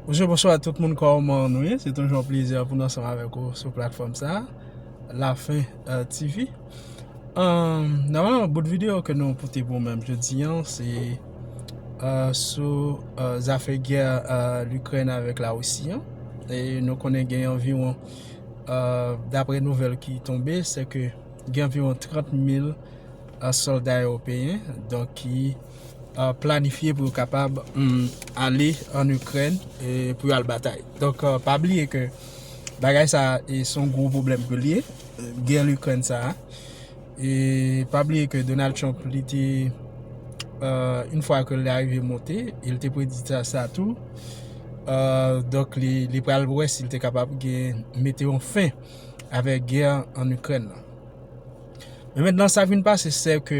Bonjour, bonsoir à tout moun kòman nou ye Se toujou an plezi pou nou ansanm avèk ou sou platfòm sa La fin euh, TV Normalman, bout video ke nou pote pou mèm jodi an Se euh, sou euh, zafè gè l'Ukraine avèk la Russie an E nou konnen gen anviwon, daprè nouvèl ki tonbe Se ke gen anviwon 30 mil sòlda Ewopeyen Donk ki planifye pou yo kapab ale an Ikrèn pou yo al batay. Donk pa bliye ke bagay sa se yon gwo pwoblèm pou li ye, gè Ikrèn sa a. E pa bliye ke Donald Trump li te, yon fwa ke li arive monte, li te predi sa tou. Donk li pral wè si li te kapab gen mete yon fen avèk gè an Ikrèn nan. Men mentenan sa vin pase se ke,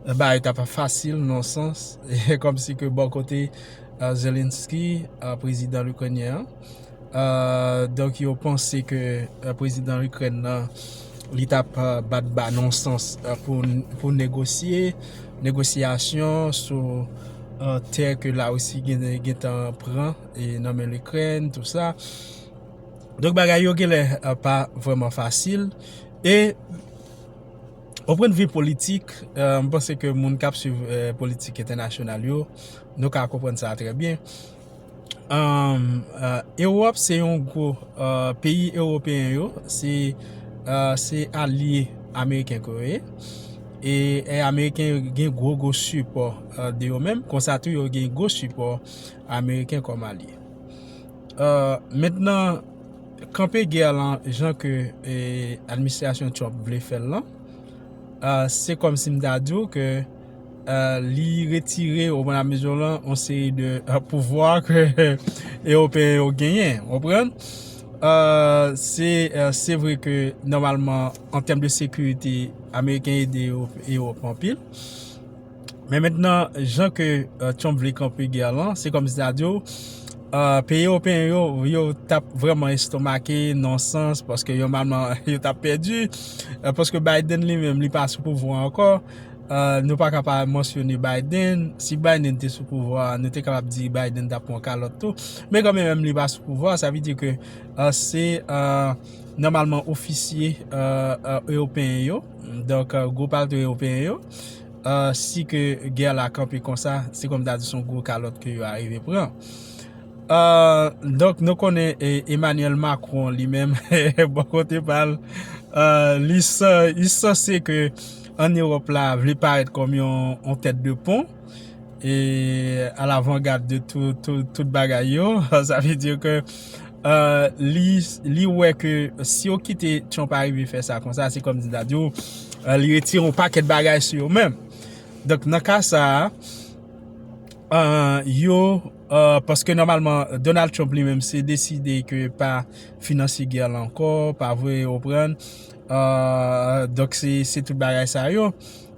Bagay ta pa fasil non sans e kòm si ke bò kote Zelensky prezidan Lukrenyen an donk yo panse ke prezidan Lukrèn nan li ta pa bat ba non sans pou negosye negosyasyon sou tè ke la Russie gen tan pran e nan men Lukrèn tou sa donk bagay yo gen lè pa vreman fasil e O pwen de vi politik, m panse ke moun k ap swiv politik entènasyonal yo, nou ka konprann sa trè byen. Ewòp se yon gwo, peyi ewopeyen yo, se alye ameriken ke yo ye. E ameriken yo gen gwo gwo sipò de yo menm, konsa tou yo gen gwo sipò ameriken kòm alye. Kanpe gè a lan jan ke administrasyon Trump vle fè l lan, se kòm si m ta di w ke li retire ou pran mezi w lan yon seri de pouvwa ke Ewopeyen yo genyen. Ou konprann? Se vre ke nòmalman an tèm de sekirite Ameriken ede Ewop anpil. Men mentnan jan ke Trump vle kanpe gè lan, se kòm si ta diw peyi ewopeyen yo, yo tap vrèman estomake nan yon sans paske yon manman yo tap pèdi, paske Biden li menm li pa sou pouvwa a ankò, nou pa ka pa mansyone Biden, si Biden te sou pouvwa a, nou te kapab di Biden tap pran kalòt tou, men kòm li menm li pa sou pouvwa a, sa vle di ke se nòmalman ofisye ewopeyen yo, donk gwo patri ewopeyen yo. si ke gè la kanpe konsa, se kòm ta di son gwo kalòt ke yo arive pran. Donk nou konnen Emmanuel Macron li menm, bon kote pal, li sanse ke an Europe la vle parèt kòm yon tèt de pon, e a lavangad de tout bagay yo sa vle di ke li wè ke si yo kite Trump arive fè sa konsa se kòm si ta di yo li retire yon pakèt bagay sou yo menm donk nan ka sa yo paske nòmalman Donald Trump li menm se deside ke pa finanse gè la ankò pa vwe ou pran donk se tout bagay sa yo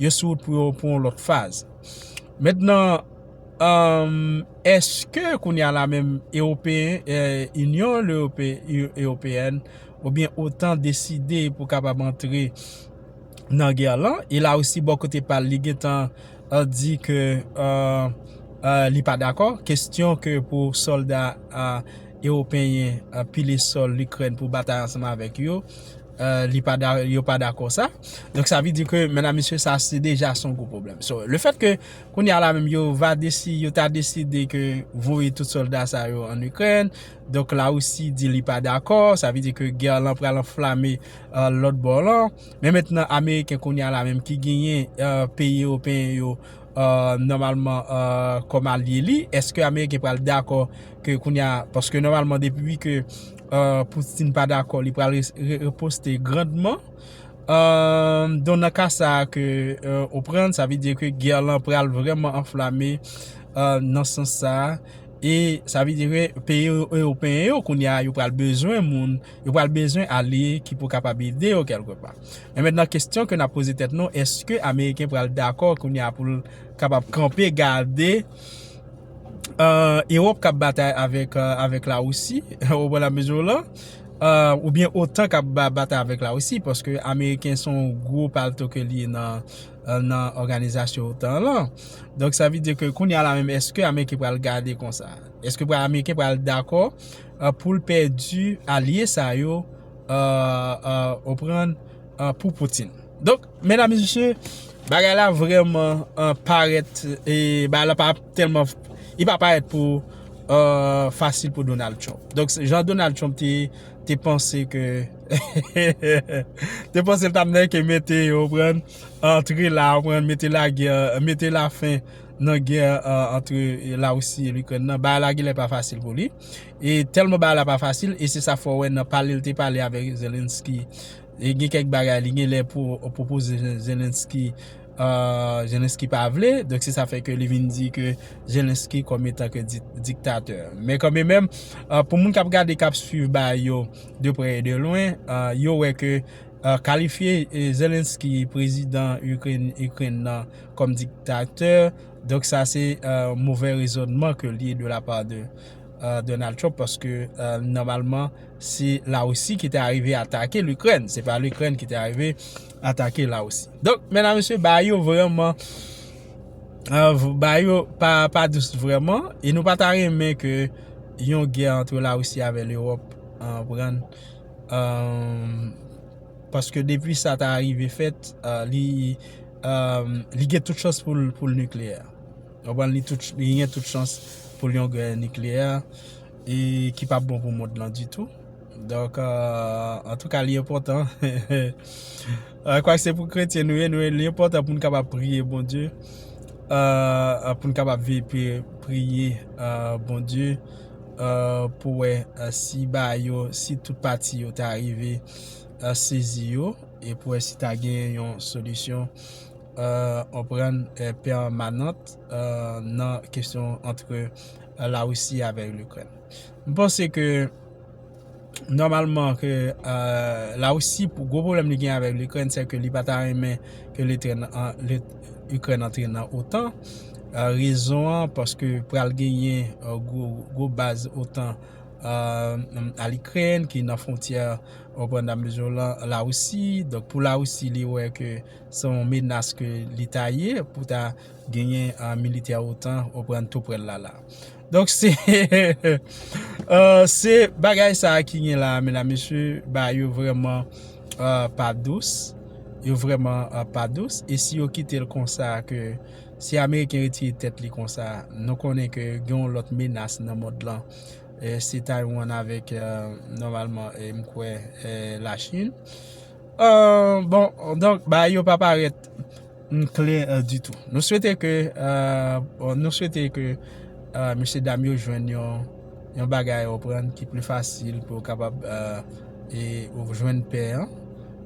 yo sou wout pou yo pou yon lòt faz. Mentnan, eske kounye a la menm Ewopeyen, Inyon Ewopeyèn oubyen otan deside pou kapab antre nan gè lan? E Larisi bò kote pa l, li gen tan di ke li pa dakò. Kestyon ke pou sòlda Ewopeyen pile sòl Ikrèn pou batay ansanm avèk yo. li pa da yo pa dakò sa donk sa vle di ke mèdam mesye sa se deja son gwo pwoblèm so le fèt ke kounye a la menm yo va desi yo ta deside ke voye tout sòlda sa yo an ikrèn donk la risi di li pa dakò sa vle di ke gè lan pral anflame lòt bò lan men mètnan ameriken kounye a la menm ki genyen peyi ewopeyen yo nòmalman kòm alye li eske ameriken pral dakò ke kounye a paske nòmalman depi ke Poutine pa dakò li pral riposte grandman. Don nan ka sa a ke ou pran, sa vle di ke gè lan pral vrèman anflame nan sans sa a. E sa vle di ke peyi ewopeyen yo kounye a yo pral bezwen moun, yo pral bezwen alye ki pou kapab ede yo kèlke pa. Men mètnan kestyon ke n ap poze tèt nou, eske ameriken pral dakò kounye a pou l kapab kanpe gade. Europe kap batay avek la Russie ou byen otan kap batay avek la Russie paske ameriken son gro palto ke li nan organizasyon otan lan donk sa vle di ke kounye la menm eske ameriken pral gade konsa eske ameriken pral dako poul pèdi alye sa yo ou konprann pou poutine. Medam e mesye, bagay la vreman parèt, bagay la pa tèlman, li pa parèt pou fasil pou Donald Trump. Donk jan Donald Trump te panse ke, te panse l t ap nèke mete yo konprann, antre la konprann, mete lagè, mete la fen nan gè antre la Russie e Ukraine nan, bagay la genlè pa fasil pou li. E tèlman bagay la pa fasil, e se sa fè w wè nan pale l te pale avèk Zelensky. Gen kèk bagay li gen lè pwopoze Zelensky, Zelensky pa vle. Donk se sa fè ke li vin di ke Zelensky kòm etan ke diktatè. Men kan men menm, pou moun k ap gade, k ap swiv bagay yo de prè e de lwen, yo wè ke kalifye Zelensky, prezidan Ikrèn nan, kòm diktatè, donk sa se movè rezònman ke li de la pa de. Donald Trump paske nòmalman se la russie ki te arive atake l'Ukraine se pa l'Ukraine ki te arive atake la russie donk mèdam mesye ba yo vreman euh, ba yo pa dous vreman e nou pa ta renmen ke yon gè antre la russie avè l'Europe an pran euh, paske depi sa ta arive fèt euh, li gen tout chans pou l'nucleaire Konprann li tout li gen tout chans pou l yon gè nikleyè e ki pap bon pou mond lan ditou. Donk antouka li enpòtan kwak se pou kretyen nou ye nou li enpòtan pou nou kapab priye Bondye pou nou kapab veye pi priye Bondye pou wè si ba yo si tout pati yo ta rive sezi yo e pou wè si ta gen yon solisyon. anprann pèmanant nan kesyon antre la Russie avè Ukraine. M panse ke nòmalman ke la Russie pou gwo pwoblèm li gen avè Ukraine se ke li pa ta renmen ke Ukraine antre nan otan. Rezon an paske pral genyen gwo baz otan al Ukraine ki nan fwontyè la Russie. Donk pou la Russie li wè ke Se yon menas ke li ta ye pou ta genyen militè otan oprèn tou prèl la la. Donk se se bagay sa ki gen la mena mesye ba yo vreman pa dous. Yo vreman pa dous. E si yo kite l konsa ke si ameriken retire tèt li konsa nou konnen ke gen yon lot menas nan mond lan. Se taywan avek nomalman mkwe la chine. Bon, donk bagay yo pa parèt klè ditou. Nou swete ke, nou swete ke mesye dam yo jwenn yon bagay ou konprann ki pli fasil pou yo kapab jwenn pè an,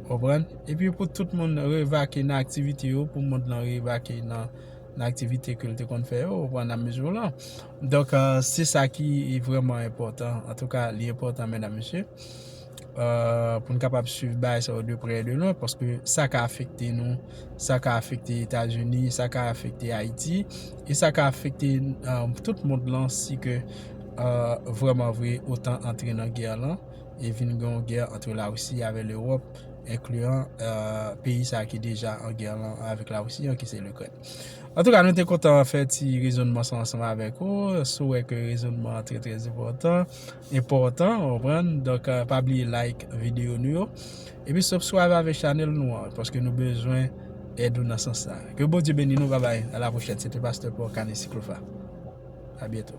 ou konprann? Epi pou tout moun revake nan aktivite yo, pou mond lan revake nan aktivite ke l te konn fè yo, ou konprann, nan mezi ou lan. Donk se sa ki vreman enpòtan, antouka li enpòtan mèdam mesye. pou n kapab swiv bagay sa yo de prè e de lwen paske sa ka afekte nou, sa ka afekte Etazini, sa ka afekte Ayiti e sa ka afekte tout mond lan si ke vreman vre otan antre nan gè lan e vin gen yon gè antre Lawousi avè Lewòp enkliyan peyi sa ki deja an gè lan avèk Lawousi an ki se Likrèn. Antouka nou te kontan fè ti rezonman sa ansanm avèk ou, si w wè ke rezonman an trè trè enpòtan enpòtan ou konprann donk pa bliye like video nou yo epi subscribe avèk chanèl nou an paske nou bezwen èd ou nan sans sa ke Bondye beni nou babay a la pwochèn se te pastè Paul Canis Clofa a byento.